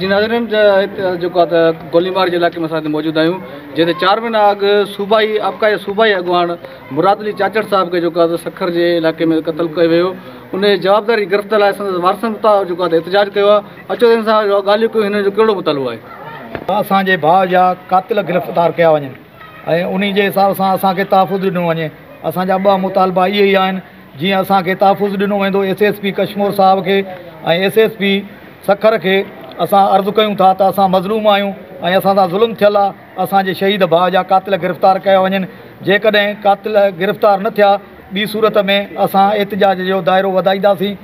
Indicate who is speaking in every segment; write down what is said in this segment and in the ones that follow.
Speaker 1: جي ناظرين جيڪو آهي ته گوليمار جي علائقي ۾ اسان هتي موجود آهيون جتي چار مهينا اڳ صوبائي ابڪا جي صوبائي اڳواڻ مراد علي چاچڙ صاحب کي جيڪو آهي سکر جي علائقي ۾ قتل ڪيو ويو ان جي جوابداري گرفت لاء سندس وارثن اتا جيڪو آهي احتجاج ڪيو آهي اچو ته ان سان جو ڳالهيون ڪيون هن جو ڪهڙو مطالبو آهي ته اسان جي ڀاء
Speaker 2: جا قاتل گرفتار ڪيا وڃن ۽ انهي جي حساب سان اسان کي تحفظ ڏنو وڃي اسان جا ٻه مطالبا اهي ئي آهن جيئن اسان کي تحفظ ڏنو ويندو ايس ايس پي ڪشمور صاحب کي ۽ ايس ايس پي سکر کي اسان عرض ڪيون ٿا ته اسان مظلوم آهيون ۽ اسان سان ظلم ٿيل آهي اسان جي شهيد ڀاء جا قاتل گرفتار ڪيا وڃن جيڪڏهن قاتل گرفتار نه ٿيا ٻي صورت ۾ اسان احتجاج جو دائرو وڌائينداسين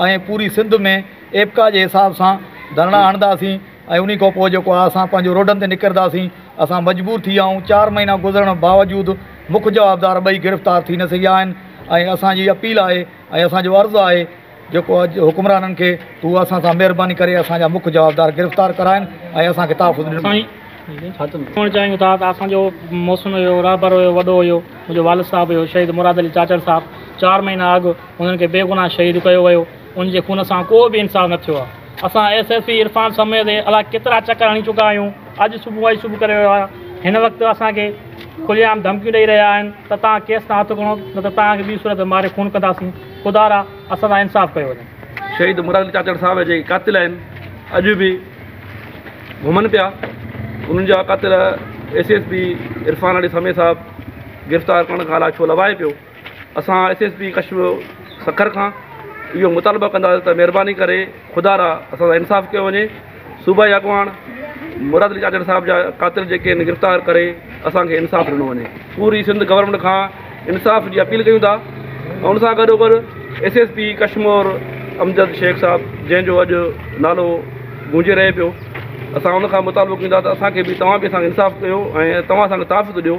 Speaker 2: ۽ پوري سنڌ ۾ ايپڪا جي حساب سان ڌرڻا هڻنداسين ۽ انهي کان پوء جيڪو آهي اسان پنهنجو روڊن تي نڪرداسين اسان مجبور ٿي ويا آهيون چار مهينا گذرڻ باوجود مک جوابدار ٻئي گرفتار ٿي نه سگهيا آهن ۽ اسان جي اپيل آهي ۽ اسان جو عرض آهي جيڪو اڄ حڪمرانن کي هو اسان سان مهرباني ڪري اسان جا مک جوابدار گرفتار ڪراين ۽ اسان کي تحفظ ڏنو. سائين چوڻ
Speaker 3: چاهيون ٿا ته اسان جو محسن هيو، رهبر هيو، وڏو هيو، منهنجو والد صاحب هيو شهيد مراد علي چاچڙ صاحب، چار مهينا اڳ هنن کي بي گناهه شهيد ڪيو ويو، ان جي خون سان ڪو به انصاف نه ٿيو آهي، اسان ايس ايس پي عرفان سميت الاء ڪيترا چڪر هڻي چڪا آهيون، اڄ صبح اڄ صبح ڪري ويو آهيان، هن وقت اسان کي کلي عام ڌمڪيون ڏئي رهيا آهن ته توهان ڪيس تان هٿ کڻو نه ته توهان کي ٻي صورت ۾ ماري خون ڪنداسين. خدا را اسان سان انصاف ڪيو وڃي. شهيد مراد علي چاچڙ
Speaker 4: صاحب جا جيڪي قاتل آهن اڄ به گهمن پيا انهن جا قاتل S S P Irfan Ali Sami صاحب گرفتار ڪرڻ کان الاء ڇو لوائي پيو اسان S S P Kashmir Sukkur کان اهو مطالبه ڪنداسين ته مهرباني ڪري خدا را اسان سان انصاف ڪيو وڃي. صوبائي اڳواڻ مراد علي چاچڙ صاحب جا قاتل جيڪي آهن گرفتار ڪري اسان کي انصاف ڏنو وڃي پوري سنڌ گورنمينٽ کان انصاف جي اپيل ڪيون ٿا ۽ ان سان گڏو گڏ S S P Kashmore Amjad Shaikh صاحب جنهن جو اڄ نالو گونجي رهي پيو اسان ان کان مطالبو ڪيون ٿا ته اسان کي بي توهان بي اسان کي انصاف ڪيو ۽ توهان اسان کي تحفظ ڏيو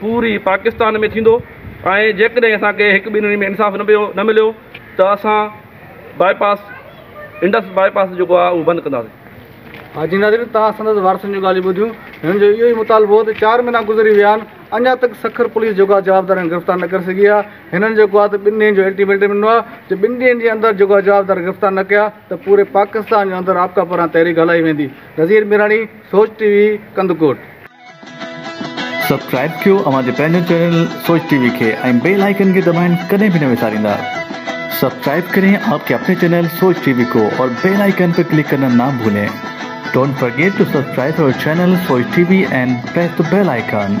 Speaker 4: پوري پاڪستان ۾ ٿيندو ۽ جيڪڏهن اسان کي هڪ ٻنهي ۾ انصاف نه پيو نه مليو ته اسان باء پاس انڊس باء پاس جيڪو آهي اهو بند ڪنداسين. حاجي ناظرين
Speaker 1: توهان سندس وارثن جون ڳالهيون ٻڌيون هنن جو اهو ئي مطالبو هو ته چار مهينا گذري ويا آهن اڃا تڪ سکر پوليس جيڪو آهي جوابدارن کي گرفتار نه ڪري سگهي آهي هنن جيڪو آهي ته ٻن ڏينهن جو الٽيميٽم ڏنو آهي ته ٻن ڏينهن جي اندر جيڪو آهي جوابدار گرفتار نه ڪيا ته پوري پاڪستان جي اندر آپڪا پاران تحريڪ هلائي ويندي Nazir Mirani Soch T V Kandhkot.
Speaker 5: Subscribe ڪيو اوهان جي پنهنجي چينل سوچ ٽي وي کي ۽ بيل آئيڪن کي دٻائڻ ڪڏهن به نه وساريندا سبسڪرائب ڪرين آپ ڪي اپني چينل سوچ ٽي وي ڪو اور بيل آئيڪن پي ڪلڪ ڪرنا نا ڀولين ڊونٽ فرگيٽ ٽو سبسڪرائب اور channel Soch T V and press the bell icon.